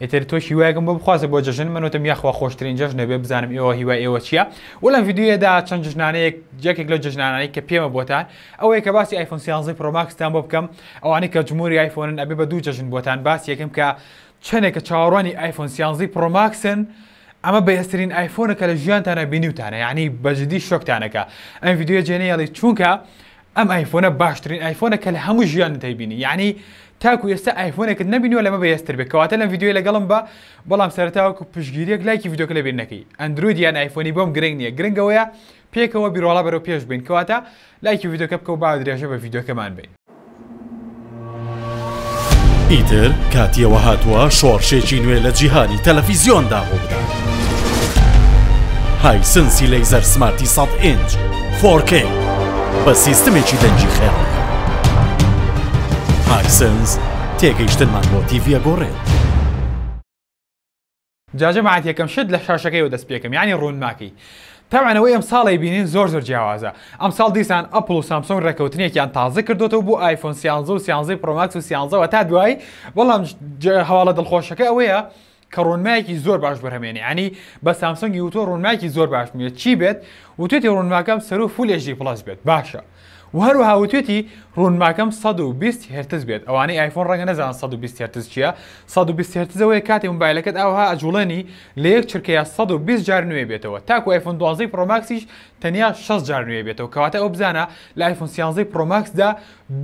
ئیتر تۆش هیوایەکم بۆ بخوازە بۆ جەژن من وتم یاخوا خۆشترین جەژنە بێ بزانم ئێوە هیوای ئێوە چییە و لەم ڤیدیۆیەدا چەند جژنانەیەک یەکێک لەو جژنانانی کە پێمە بۆتان ئەوەیە کە باسی ئایفۆن سیانزەی پرۆماکستان بۆ بکەم ئەوانەی کە جمهوری ئایفۆنن ئەبێ بە دوو جەژن بۆتان باس یەکەم کە چەندێکە چاوەڕوانی ئایفۆن سیانزەی پرۆماکسن ئەمە بەهێزترین ئایفۆنە کە لە ژیانتانە بینیوتانە یعنی بەجددی شۆکتانەکە ئەم ڤیدیۆ جێنەیەڵی چونکە ئەم ئایفۆنە باشترین ئایفۆنە کە لە هەموو ژیانت هەیبینی یعنی تاکو ئێستا ئایفۆنێکت نەبینیوە لەمە بەهێزتر بێت کەواتە لەم ڤیدیۆی لەگەڵم بە بەڵام سەرتاوەکو پشگیریەک لایکی ڤیدیۆکە لە بیر نەکەی ئەندروید یان ئایفۆنی بۆم گرنگ نییە گرنگەوەیە پێکەوە بیرۆڵا بەرەو پێش بین کەواتە لایکی ڤیدیۆکە بکەو با درێژە بە ڤیدیۆکەمان بین ئیتر کاتی ئەوە هاتووە شۆڕشێکی نوێ لە جیهانی تەلەفیزیۆندا ڕوو بدات هایسنسی لەیزەر سمارتی سەد ئینج فۆرکەی بە سیستمێکی دەنگی خێڵ هایسنس تێگەیشتنمان بۆ تیڤە گۆڕێت جا جەماعەت یەکەم شت لە شاشەکەیەوە دەست پێکەم یانی ڕوونماکەی تەبعەن ئەوەی ئەمساڵی بینین زۆر زۆر جیاوازە ئەمساڵ دیسان ئەپڵ و سامسۆنگ ڕێکەوتنێکیان تازە کردوەوە بۆ ئایفۆن سیانزە و سیانزەی پرۆماکس و سیانزەوە تا دوایی بەڵام هەواڵە دڵخۆشەکە ئەوەیە کە ڕۆنمایەکی زۆر باش بەرهمێنی ینی بە سامسۆنگی وتۆ ڕوونمایکی زۆر باش نیە چی بێت وتێتی ڕوونماکەم سەرو فولێژی پڵس بێت باشە و هەروەها وتوێتی ڕوونماکەم سەد و بیست هێرتز بێت ئەوانەی ئایفۆن ڕەنگە نەزانن سەد و بیست هێرتز چییە سەد و بیست هێرتز ئەوەیە کاتێ مۆبایلەکەت ئاوها ئەجووڵێنی لە یەک چرکەیا سەد و بیست جار نوێ بێتەوە تاکوو ئایفۆن دوازدەی پڕۆ ماکسیش تەنیا شەست جار نوێ بێتەوە کەواتە ئەوە بزانە لە ئایفۆن سیانزەی پڕۆ ماکسدا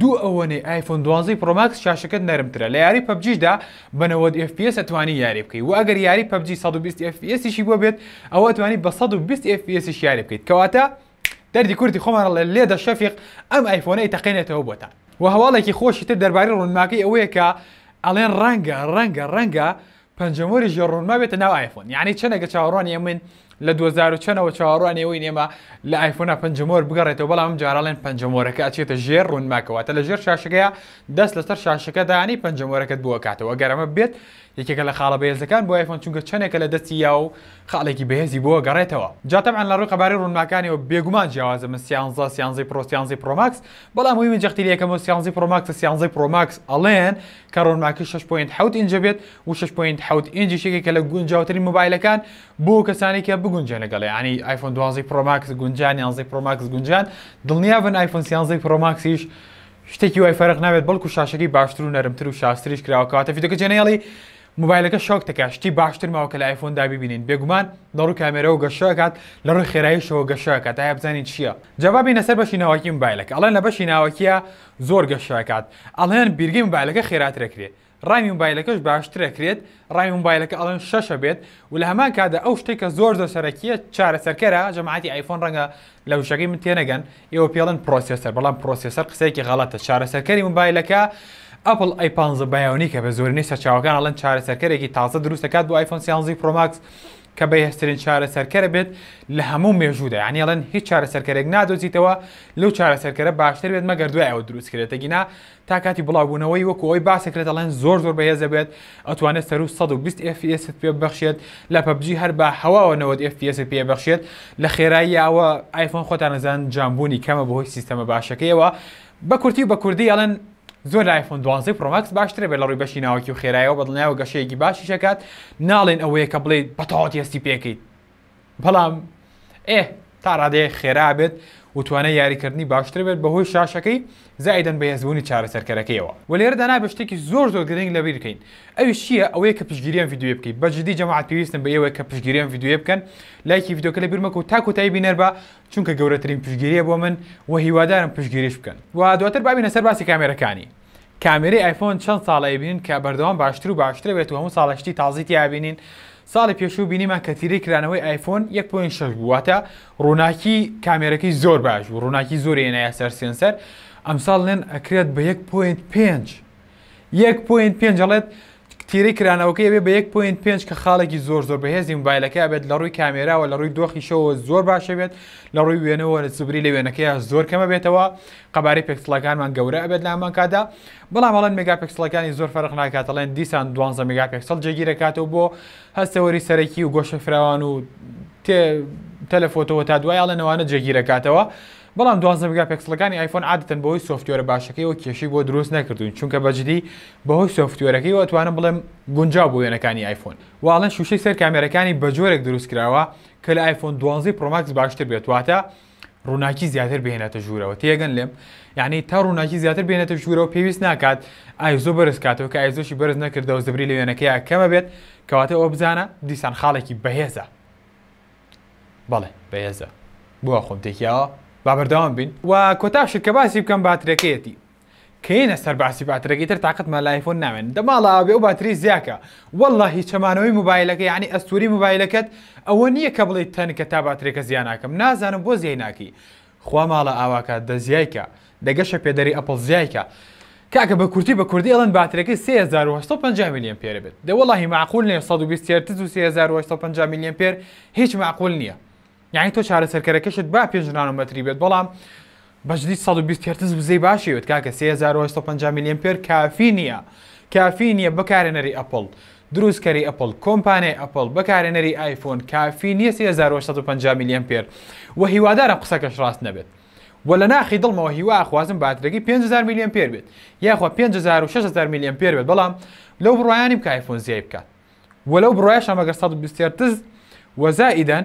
دوو ئەوەنەی ئایفۆن دوازدەی پڕۆ ماکس شاشەکەت نەرمترە لە یاری پەبجیشدا بە نەوەد ئێف پی ئێس ئەتوانی یاری بکەی و ئەگەر یاری پەبجی سەد و بیست ئێف پی ئێسیشی بۆ بێت ئەوە ئەتوانی بە سەد و بیست ئێف پی ئێسیش یاری بکەیت کەواتە دەردی کورتی خۆمان ڵێ لێدە شەفیق ئەم ئایفۆنەی تەقێنێتەوە بۆتان و هەواڵێکی خۆشی تر دەرباری ڕوونماکەی ئەوەیە کە ئەڵێن ڕەنگە ڕەنگە ڕەنگە پەنجەمۆری ژێ ڕوونما بێتە ناو ئایفۆن یعنی چەنەگە چاوەڕوان ئێمن لە 2000 چەنەوە چاوەڕوان ئێوەی ئێمە لە ئایفۆنا پەنجەمۆر بگەڕێتەوە بەڵام جارڵێن پەنجەمۆرەکە ئەچێتە ژێر ڕوونماکەوەتە لە ژێر شاشەکەیە دەست لەسەر شاشەکەدانی پەنجەمۆرەکەت بووە کاتەوە گەرەمە بێت یەکێکە لە خاڵە بەهێزەکان بۆ ئایفۆن چونکە چەنێکە لە دەستی یا و خاڵێکی بەهێزی بۆ گەڕێتەوە جا تەبعەن لە ڕووی قەبارەی ڕوونماکانیەوە بێگومان جیاوازە من سیانزە سیانزەی پڕۆ سیانزەی پڕۆ ماکس بەڵام هۆی من جەختی لە یەکەمەوە سیانزەی پڕۆ ماکسە سیانزەی پڕۆ ماکس ئەڵێن کە ڕوونماکی 6.7 ئینجە بێت و 6.7 ئینجیش یەکێکە لە گونجاوترین مۆبایلەکان بۆ کەسانی کە بگونجێن لەگەڵ یانی ئایفۆن دوازەی پڕۆ ماکس گونجان یانزەی پڕۆ ماکس گونجان دڵنیا بن ئایفۆن سیانزەی پڕۆ ماکسیش شتێکی وای فەرق نابێت بەڵکو شاشەکەی باشتر و نەرمتر و شاستریش کراوە کەواتە ڤیدیۆکە جێنەیەڵی موبایلەکە شۆک دەکات شتی باشتر ماوە کە لە ئایفۆندا ببینین بێگومان لە ڕووی کامێرەوە گەشەکات لە ڕووی خێراییشەوە گەشەکات ئایا بزانین چییە جابا بینە سەر بەشی ناوەکی موبایلەکە ئەڵێن لە بەشی ناوەکیە زۆر گەشەکات ئەڵێن بیرگەی موبایلەکە خێراترەکرێ ڕامی موبایلەکەش باشتر ئەکرێت ڕامی موبایلەکە ئەڵێن شەشە بێت و لە هەمان کادا ئەو شتێک کە زۆر زۆر سەرەکیە چارەسەرکەرە جەماعەتی ئایفۆن ڕەنگە لە وشەکەی من تێنەگەن ئێوە پێڵن پرۆسێسەر بەڵام پرۆسێسەر قسەیەکی غەڵەتە چارەسەرکەری موبایلەکە ئەپل ئەی پ بەیاونی کە بە زۆرینەی سەرچاوەکان ئەڵەن چارەسەرکەرێکی تازە دروست دەکات بۆ ئایفۆن سیانزی پرۆماکس کە بە هێسترین چارەسەرکەرە بێت لە هەموو مێژوودا یانیڵەن هیچ چارەسەرکەرێک نادۆزیتەوە لەو چارەسەرکەرە باشتر بێت مەگەر دوای ئەوە دروستکرێتەگینا تا کاتی بڵاوبوونەوەی وەکو ئەوەی باسەکرێت دەڵێن زۆر زۆر بەهێز دەبێت ئەتوانێت سەروو 120 FPS پێ بەخشێت لە پەبجی هەر بە هەواوە 90 FPS پێ بەخشێت لە خێراییەوە ئایفۆن خۆتانەزان جامبوونی کەمە بەهۆی سیستەمە باشەکەیەوە بە کورتی و بە کوردی ئەڵێن زۆر لە ئایفۆن دوازی پرۆماکس باشترە بێت لە ڕووی بەشی ناوکی و خێرایەوە بەدڵنیایەوە گەشەیەکی باشیشەکات ناڵێن ئەوەیە کە بڵێ بەتەواتی هەستی پێکەیت بەڵام ئێ تا ڕادەیە خێرا بێت و توانای یاریکردنی باشتر بێت بەهۆی شاشەکەی زایدەن بە هێزبوونی چارەسەرکەرەکەیەوە و لێرەدا نابێت شتێکی زۆر زۆر گرنگ لەبیر بکەین ئەوی چییە ئەوەیە کە پشگیریان یددیوێ بکەیت بە جدی جەماعات پێویستن بە ئێوەیە کە پشگیریان یددیوێ بکەن لایکی یددیوکە لە بیرمەکە و تاکو تای بینەر بە چونکە گەورەترین پشگیریە بۆ من و هیوادارم پشگیریش بکەن و دواتر بابینە سەر باسی کامێرەکانی کامێرەی ئایفۆن چەند ساڵە ئەیبینین کە بەردەوام باشتر و باشتر بێت و هەموو ساڵە شتی تازی تیا بینین ساڵی پێشوو بینیمان کە تیرەی کرانەوەی ئایفۆن 1.6 بوواتە ڕووناکی کامێرەکەی زۆر باش و ڕووناکی زۆر هێنایە سەر سێنسەر ئەمساڵ لێن ئەکرێت بە 1.5 1.5 ڵێت تیرەی کرانەوەکەی ئەبێ بە یەک پۆینت پێنج کە خاڵێکی زۆر زۆر بەهێزی موبایلەکەی ئەبێت لە ڕووی کامێراوە لە ڕووی دۆخیشەوە زۆر باشە بێت لە ڕووی وێنەوە سوبری لە وێنەکەی زۆر کەمە بێتەوە قەبارەی پێکسڵەکانمان گەورە ئەبێت لامان کادا بەڵام هەڵەن مێگا پێکسڵەکانی زۆر فەرق ناکاتەڵێن دیسان دوانزە مێگا پێکسڵ جێگیرەکاتەوە بۆ هەستەوەری سەرەکی و گۆشە فراوان و تێ تەلەفۆتەوە تا دوایاڵێنەوانە جێگیرەکاتەوە بەڵام دوازدە میگاپێکسڵەکانی ئایفۆن عادەتەن بەهۆی سۆفتوێرە باشەکەیەوە کێشەی بۆ دروست نەکردوون چونکە بەجدی بەهۆی سۆفتوێرەکەیەوە ئەتوانم بڵێم گونجاو بۆ وێنەکانی ئایفۆن و ئەڵێن شوشەی سەر کامێرەکانی بە جۆرێک دروست کراوە کە لە ئایفۆن دوازدە پرۆماکس باشتر بێت واتە ڕووناکی زیاتر بهێنێتە ژوورەوە تێگەن لێم یعنی تا ڕووناکی زیاتر بێنێتە ژوورەوە پێویست ناکات ئایزۆ بەرز کاتەوە کە ئایزۆشی بەرز نەکردەوە زبری لە وێنەکەیە کەمە بێت کەواتە ئەوە بزانە دیسان خاڵێکی بەهێزە بەڵێ بەهێزە بۆوا خۆم تێکیاوە با بەردەوام بین و کۆتا شت کە باسی بکەم باترەکەیەتی کەینە سەر باسی باترەکەی تر تااقتمان لایفۆن ناوێن دەماڵە ئەوێ و باتری زیاکە والله هی چەمانەوەی موبایلەکە یعنی ئەستوری موبایلەکەت ئەوە نییە کە بڵێ تەنکە تا باترێکە زیانناکەم نازانم بۆ زیای ناکەی خوا ماڵە ئاواکات دە زیای کە. دە گەشە پێدەری ئەپڵ زیای کە. کاکە بە کورتی بە کوردی ئەڵێن باترەکەی سێ هەزار و هەشت سەد و پەنجا ملی ئەمپێرە بێت دە وەڵاهی مەعقول نیە سەد و بیست هێرتز و سێ هەزار و هەشت سەد و پەنجا ملی ئەمپێر هیچ مەعقول نیە یەعنی تۆ چارەسەرکەرەکەشت با پێنج نانۆمەتری بێت بەڵام بەجدی سەد و بیست هێرتز وزەی باشی بێت کاکە سێ هەزار و هەشت سەد و پەنجا ملی ئەمپێر کافی نیە کافی نیە بەکارێنەری ئەپڵ دروستکەری ئەپڵ، کۆمپانیای ئەپڵ، بەکارهێنەری ئایفۆن کافی نییە سێ هەزار و سەد و پەنجا ملی ئەمپێر و هیوادارم قسەکەش ڕاست نەبێت و لە ناخی دڵمەوە هیوا ئەخوازم باترەکەی پێنج هەزار ملی ئەمپێر بێت یاخوا پێنج هەزار و شەش هەزار ملی ئەمپێر بێت بەڵام لەو بڕوایە نیم کە ئایفۆن زیای بکات و لەو بڕوایەشم ئەگەر سەد و بیست هێرتز و زائیدەن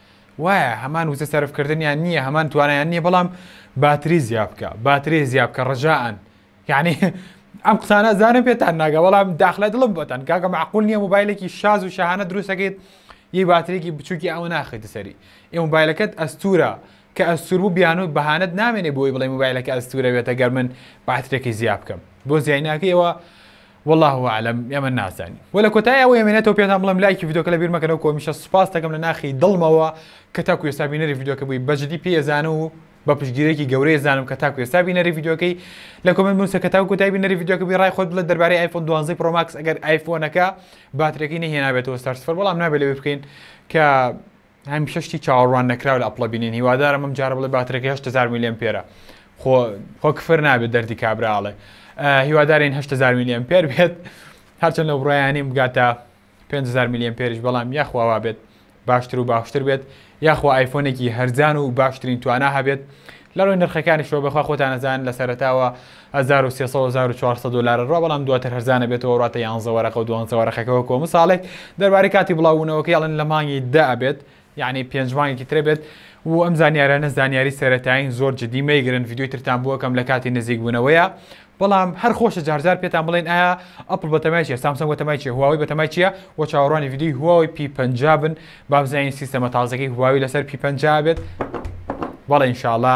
وایە هەمان وزە سەرف کردنیان نییە هەمان توانایان نییە بەڵام باتری زیاد بکە باتری زیاد بکە ڕجاان یعنی ئەم قسانە زانم پێتان ناگە بەڵام داخلە دڵم بەتەن کاکە معقول نییە موبایلێکی شاز و شەهانە دروستەکەیت یەی باترێکی بچووکی ئەوە ناخیتە سەری ئێ موبایلەکەت ئەستورە کە ئەستور بوو بیانوت بەهانت نامێنێ بۆی بڵێ موبایلەکە ئەستورەوێتە گەر من باترێکی زیاد بکەم بۆ زیای ناکەیەوە واللە اعلم ئێمە نازانین وە لە کۆتای ئەوەی ئەمێنێتەوە پێتان بڵێم لایکی ڤیدۆکە لە بیرمەکەنەوە کۆمیشە سوپاس دەکەم لە ناخی دڵمەوە کە تاکو ئێستا بینەری ڤیدۆکە بووی بەجدی پێزانە و بە پشگیرێکی گەورەی زانم کە تاکو ئێستا بینەری ڤیدۆکەی لە کۆمنت بنووسە کە تاکو کۆتای بینەری ڤیدۆکە بی ڕای خۆت بڵێ دەربارەی ئایفۆن 12 پرۆ ماکس ئەگەر ئایفۆنەکە باترەکەی نەهێنابێتەوە سەر سفر بەڵام نابێت لەوێ بکەین کە هەمیشە شتی چاوەڕوان نەکراو لە ئەپڵە بینین هیوادارم ئەم جارە بڵێ باترەکە هەشت هەزار ملی ئەمپێرە خۆ خۆ کفر نابێت دەردی کابرا ئەڵێ هیوادارین هەشت هەزار ملی ئەمپێر بێت هەرچەند لەو بڕایانیم بگاتە 500 ملی ئەمپێریش بەڵام یاخواوا بێت باشتر و باشتر بێت یاخوا ئایفۆنێکی هەرزان و باشترین توانا هەبێت لە ڕووی نرخەکانیشەوە بەخوا خۆتان نەزان لە سەرتاوە هەزار و سێ سەد هەزار و چوار سەد دۆلارە ڕا بەڵام دواتر هەرزانە بێتەوە ڕاتە یانزە وەرەقە و دوانزە وەرەقەکە وەکوە مساڵێک دەربارەی کاتی بڵاو بوونەوەکەی ئەڵێن لە مانگی دە ئەبێت یعنی پێنج مانگێکی ترە بێت و ئەم زانیارانە زانیاری سەرەتایین زۆر جدی مەیگرن ڤیدیۆی ترتان بووەکەم لە کاتی نزیک بوونەوەیە بەڵام هەر خۆشە جارجار پێتان بڵێن ئایا ئەپل بەتەمای چیە سامسەنگ بەتەمای چیە هواوی بەتەمای چیە و چاوەڕوانی ڤیدیۆی هواوی پی پەنجا بن با بزانین سیستەمە تازەکەی هواوی لەسەر پی پەنجا بێت بەڵێ ئینشاڵا